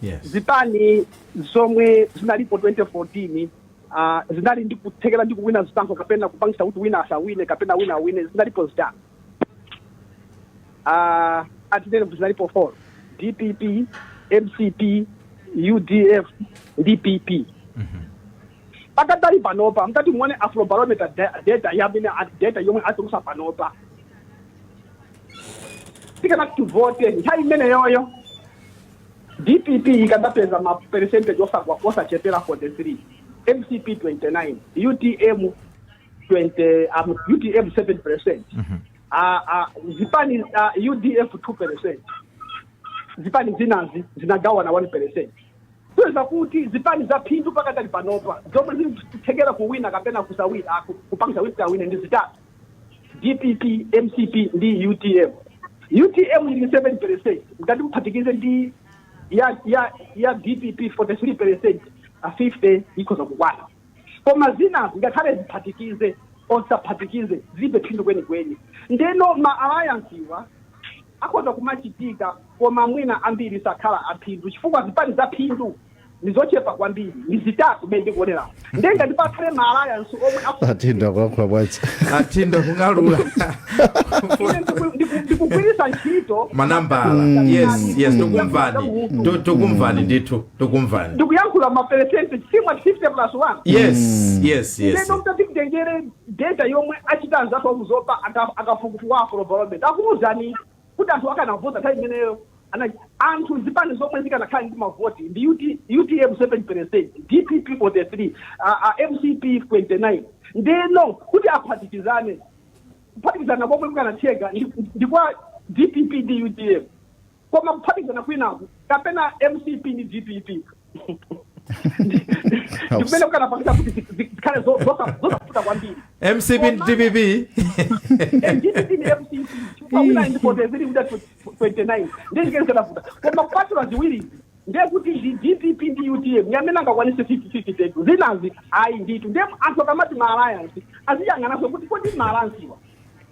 yes zipani zomwe zinalipo 2014 ah, zinali ndi kuthekera ndi kuwina zisankho kapena kupangisa kuti wina asawine kapena wina awine zinalipo zitatu Ah, atinene kuti zinalipo 4 dpp mcp udf ndi pp pakadali panopa mtati muone afrobarometer da- data yamene a- data yomwe atulusa panopa tikanati kuvote nthawi imeneyoyo dpp ikadapeza ma percentage osagwa osachepera 43 mcp 29 utm 20 um, utm 7 percent Mhm. uh, uh, zipani uh, udf 2 percent zipani zinazi zinagawana 1 percent kuonetsa kuti zipani za phindu pakadali panopa zomwe zikuthekera kuwina kapena kusawina ah, ku- kupangisa kuti awine ndi zitatu dpp mcp ndi utm utm ili 7 percent mtati muphatikize ndi ya ya ya dpp 43 percent a 50 ikhoza kukwana koma zinazi ngakhale ziphatikize or zisaphatikize zilibe phindu kwenikweni ndeno ma alliance-wa akhoza kumachitika koma mwina ambiri sakhala aphindu chifukwa zipani za phindu ndizochepa kwambiri ndi zitatu mmene ndikuonerapo nde ngati pakhale ma alliance omwe aku- asintha kulankhula bwacha athinda kung'alula ine ndiku- ndiku- ndikugwiritsa ntchito manambala yes yes tokumvani To- tokumvani ndithu tokumvani ndikuyankhula maperesenti chifukwa 50 plus 1 yes yes yes ndeno mtati mtengere data yomwe achita anzathu aku zomba aka- akafukufuku a afrobarometer akuuzani kuti anthu akanavota nthawi imeneyo ana- anthu zipani zomwe zikanakhala ndi mavoti ndi UT- utm 7 percent dpp 43 a- a mcp 29 ndeno kuti aphatikizane kuphatikizana komwe kukanatheka ndi- ndi kwa dpp ndi utm koma kuphatikizana kwinaku kapena mcp ndi dpp ndikumene kukanapangisa kuti zi- zi- zikhale zo- zosa- zosavuta kwambiri mcp ndi dpp dpp ndi mcp chifukwa wina ndi 43 wina 29 ndiye chimene chikanavuta koma kupatula ziwirizi ndiye kuti ndi dpp ndi utm yamene angakwanise 50 tetu zinazi ayi nditu ndiye anthu akamati ma alliance aziyang'anaso kuti kodi ma alliance iwa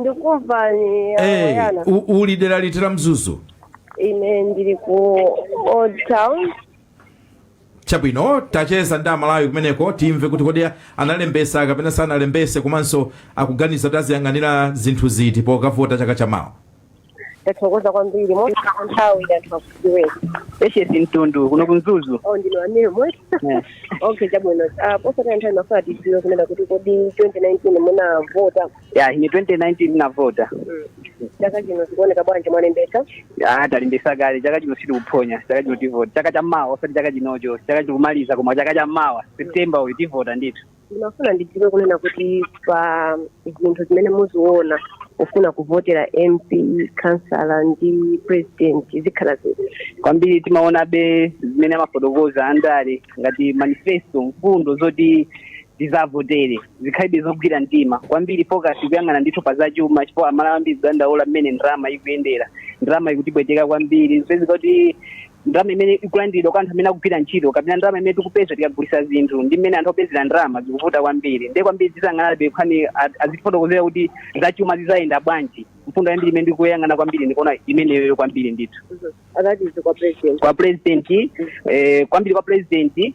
ndikumva ni Eh, ayana u- uli dera liti la mzuzu ine ndili ku old town chabwino tacheza ndi amalawi kumeneko timve kuti kodi analembesa kapena sanalembese komanso akuganiza kuti aziyang'anira zinthu ziti pokavota chaka chamawa ndathokoza kwambiri mosataya nthawi anthu akudziweni Patience mtundu kuno ku mzuzu oh ndinu amene muli Eh. okay chabwino Ah, posataya nthawi ndimafuna tidziwe kunena kuti kodi 2019 munavota ya ine 2019 ndinavota Mm. chaka chino zikuoneka bwanji mwalembetsa Ah, talembesa kale chaka chino sitikuphonya chaka chino tivota chaka cha mawa osati chaka chinocho chaka chikumaliza koma chaka cha mawa september uyu tivota ndithu ndimafuna ndidziwe kunena kuti pa zinthu zimene muziona kufuna kuvotera mp kansala ndi president zikhala ziti kwambiri timaonabe zimene amafotokoza andale ngati manifesto mfundo zoti tizavotere zikhalebe zogwira mtima kwambiri focus kuyang'ana ndithu pa zachuma chifukwa amalawi ambiri tikudandaula mmene ndalama ikuyendera ndalama ikutipweteka kwambiri zipezeka kuti ndalama imene ikulandiridwa kwa anthu amene akugwira ntchito kapena ndalama imene tikupeza tikagulisa zinthu ndi mmene anthu akupezera ndalama zikuvuta kwambiri ndiye kwambiri tizayang'anabe nkhani azitifotokozera kuti zachuma zizayenda bwanji mfundo yambiri imene ndikuyang'ana kwambiri ndikuona imeneyo kwambiri ndithu akatizi kwa president kwa president eh, kwambiri kwa president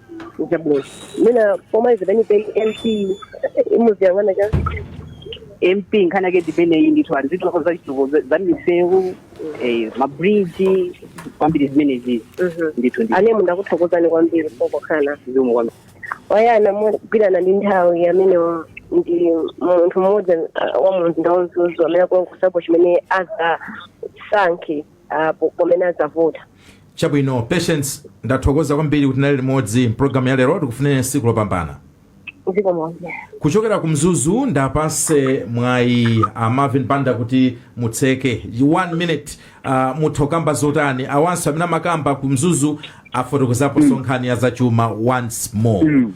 Chabwino. Mwina pomaliza peni peni MP muziyang'ana chani mp nkhani yake ndimeneyi ndithu ali zinthu zake zachitukuko za- za misewu eh, mabridge kwambiri zimenezizi ndithu ndi anemu ndakuthokozani kwambiri pokhala zikomo kwambiri wayana molingana ndi nthawi amene wa- ndi munthu mmodzi ah, wa mumzinda wa mzuzu amene akulankhulapo chimene azasankhe apo pamene adzavota chabwino patience ndathokoza kwambiri kuti tinali limodzi mpulogalamu ya lero tikufunireni tsiku lopambana zikomo nonse kuchokera ku mzuzu ndiwapase mwayi a marvin banda kuti mutseke one minute uh, mutha kukamba zotani awanso amene amakamba ku mzuzu afotokozaponso nkhani ya zachuma once more Mm.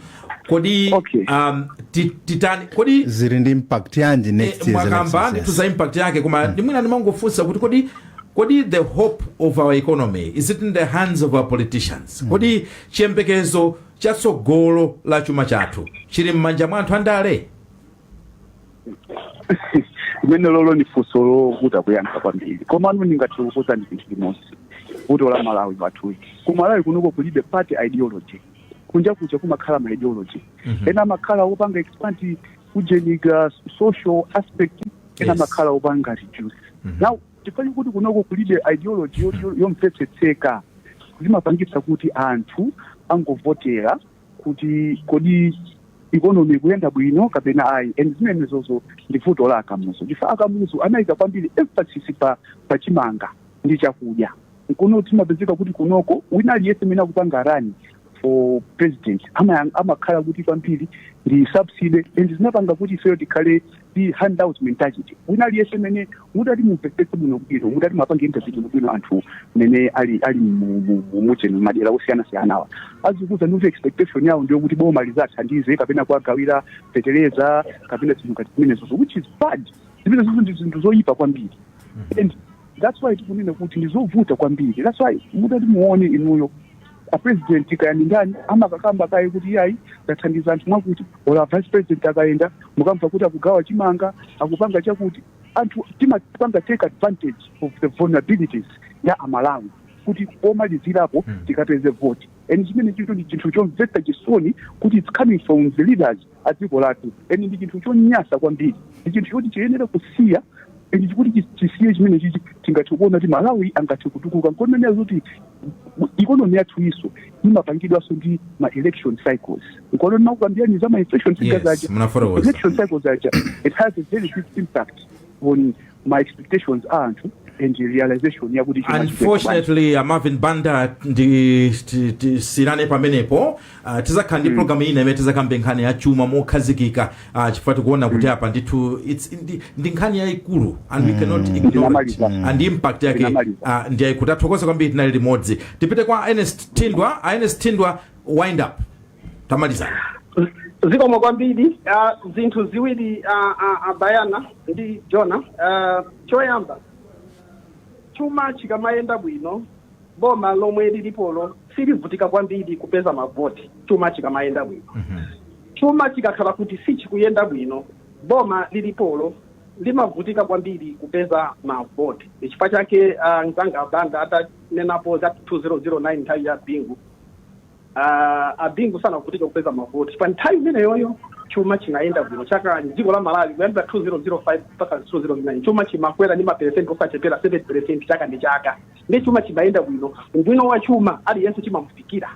kodi Okay. um, ti- titani kodi zili ndi impact yanji next year's mwakamba elections, ndithu yes. za impact yake koma ndi mwina ndimangofunsa kuti kodi kodi the hope of our economy is it in the hands of our politicians kodi chiyembekezo cha tsogolo la chuma chathu chili m'manja mwa anthu andale limenelolo ni funso lovuta kuyankha kwambiri komano ndingathe kukuuzani ndi chinthu chimodzi vuto la malawi wathuyu ku malawi kunoko kulibe party ideology kunja kuja kumakhala ma ideology Mhm. ena amakhala opanga expand kujenika social aspect ena Yes. amakhala opanga reduce Mhm. now chifukwa kuti kunoko kulibe ideology yo- yo- yomvetsetseka zimapangitsa kuti anthu angovotera kuti kodi ikonomi ikuyenda bwino kapena ayi and zimenezozo ndi vuto la akamuzu chifukwa akamuzu anayika kwambiri emphasis pa, pa chimanga ndi chakudya nkono timapezeka kuti kunoko wina aliyense amene akupanga rani for president ama- amakhala kuti kwambiri ndi subsidy and zinapanga kuti ifeyo tikhale ndi handout mentality wina aliyense amene mutati mumvetsetse bwino bwino mutati muwapange interview bwino bwino anthu amene ali ali mu- mu- mu- mucheni madera osiyana siyanawa azikuuzani kuti expectation yawo ndi yokuti boma lizawathandize kapena kuwagawira fetereza kapena zinthu ngati zimenezozo which is bad zimenezo ndi zinthu zoyipa kwambiri and that's why tikunena kuti ndizovuta kwambiri that's why mutati muone inuyo a president kaya ndi ndani amakakamba kaye kuti iyayi tathandiza anthu mwakuti ola vice president akayenda mukamva kuti akugawa chimanga akupanga chakuti anthu timapanga take advantage of the vulnerabilities ya amalawi kuti pomalizirapo tikapeze voti and chimenechicho ndi chinthu chomvetsa chisoni kuti it's coming from the leaders a dziko lathu and ndi chinthu chonyansa kwambiri ndi chinthu choti chiyenera kusiya and chikati chi- chisiye chimenechichi tingathe kuona kuti malawi angathe kutukuka nkoneneka zoti ikonomi yathu iso imapangidwanso ndi ma election cycles nkono ndinakukambirani za ma election cycles Yes, aja munafotokoza. election cycles aja it has a very big impact on ma expectations a anthu and realization yakuti chuma chibwera bwanji. unfortunately uh, marvin banda ndi ti- ti- siirane pamenepo uh, tizakhala ndi program ina imene tizakambe nkhani ya chuma mokhazikika uh, chifukwa tikuona kuti apa ndithu it's- ndi- ndi nkhani yayikulu and we cannot ignore it Ndinamaliza. and impact yake Ndinamaliza. uh, ndi yayikulu tathokoza kwambiri tinali limodzi tipite kwa ernest thindwa uh, ernest thindwa wind up tamalizani zikomo kwambiri ah, zinthu ziwiri ah, ah, ah, bayana ndi joana Ah, choyamba chuma chikamayenda bwino boma lomwe lilipolo silivutika kwambiri kupeza mavoti chuma chikamayenda bwino chuma chikakhala kuti sichikuyenda bwino boma lilipolo limavutika kwambiri kupeza mavoti chifukwa chake ah, mzanga a banda atanenapo za 2009 nthawi ya bingu Uh, a Bingu sanavutike kupeza mavoti pa nthawi imeneyoyo, chuma chinayenda bwino cha dziko la Malawi kuyambira 2005 mpaka 2009 chuma chimakwera ndi maperesenti osachepera 7 peresenti chaka ndi chaka, ndiye chuma chimayenda bwino, ubwino wa chuma aliyense chimamufikira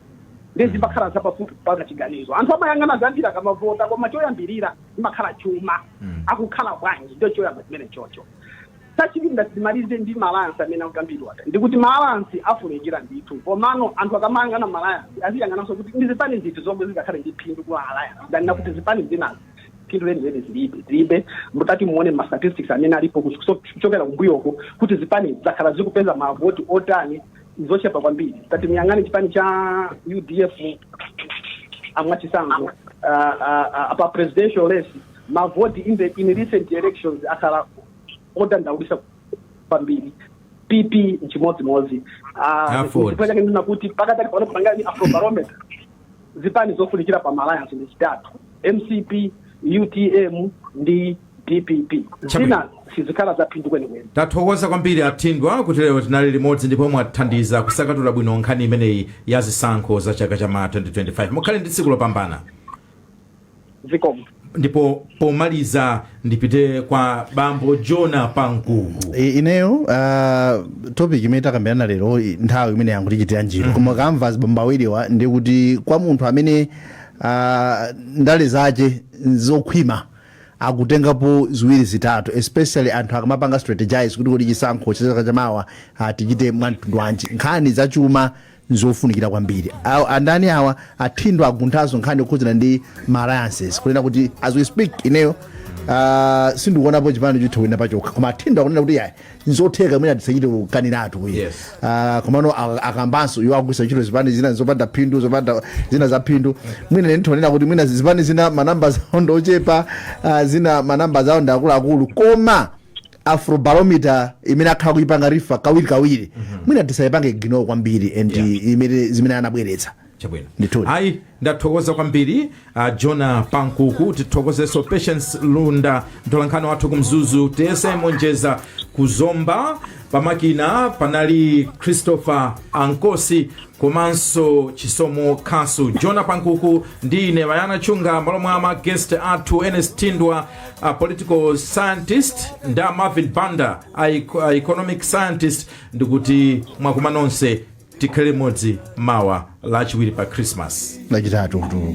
ndiye zimakhala zapafupi kupanga chiganizo. Anthu amayang'ana zambiri akamavota, koma choyambirira imakhala chuma, akukhala bwanji, ndicho choyamba chimene chocho Chachiwiri ndati ndimalize ndi ma alliance amene akukambidwa aja. Ndikuti ma alliance afunikira ndithu komano anthu akamayang'ana ma alliance aziyang'ananso kuti ndi zipani ziti zomwe zingakhale ndi phindu ku ma alliance than kuti zipani zinazi phindu lenileni zilibe. Zilibe. Mutati muone ma statistics amene alipo kuso- kuchokera kumbuyoku kuti zipanizi zakhala zikupeza mavoti otani zochepa kwambiri. Tati muyang'ane chipani cha UDF a mwachitsanzo uh, uh, uh, apa presidential race mavoti in the in recent elections akhala odandaulisa kwambiri pp nchimodzimodzi Ah, Aford. chifukwa chake ndinati kuti pakadali pano kupanga ndi afrobarometer zipani zofunikira pa malayansi ndi zitatu mcp utm ndi dpp zina sizikhala zaphindu kwenikweni tathokoza kwambiri a thindwa kuti lero tinali limodzi ndipo mwathandiza kusanthula bwino nkhani imeneyi ya zisankho za chaka cha mawa 2025 mukhale ndi tsiku lopambana zikomo ndipo pomaliza ndipite kwa bambo jona pankuku I- ineyo uh, topic imene takambirana lero i- nthawi imene yangotichitira njiru koma ukamva azibambo awiriwa ndi kuti kwa munthu amene uh, ndale zake zokhwima akutengapo ziwiri zitatu especially anthu akamapanga strategize kuti kodi chisankho cha chaka chamawa uh, tichite mwamtundu wanji nkhani zachuma nzofunikira kwambiri Aw- andani awa a thindwa agunthanso nkhani yokhudzana ndi ma alliances kunena kuti as we speak ineyo Uh, sindikuonapo chipani chitha kuwina pachokha koma a thindwa akunena kuti yayi nzotheka mwina tisachite kukaniratu ayi Yes. uh, komano a- akambanso iwo akugwisa ntchito zipani zina zopanda phindu zopanda zina za phindu mwina nditha kunena kuti mwina zipani zina manamba zawo ndochepa uh, zina manamba zawo ndi akuluakulu koma afrobarometer imene akhala akuipanga refer kawirikawiri mwina tisaipange ignore kwambiri and Yeah. imene zimene anabweretsa chabwino Ndithudi. ayi ndathokoza kwambiri uh, jona pankuku tithokozeso patience lunda mtolankhani wathu ku mzuzu tiyese monjeza ku zomba pamakina panali christopher ankosi komanso chisomo khasu jona pankuku ndi ine bayana chunga malo mwa ma guest athu ernest thindwa a political scientist ndi a marvin banda a, eco- a economic scientist ndikuti mwaswera nonse tikhale limodzi mawa lachiwiri pa christmas lachitatu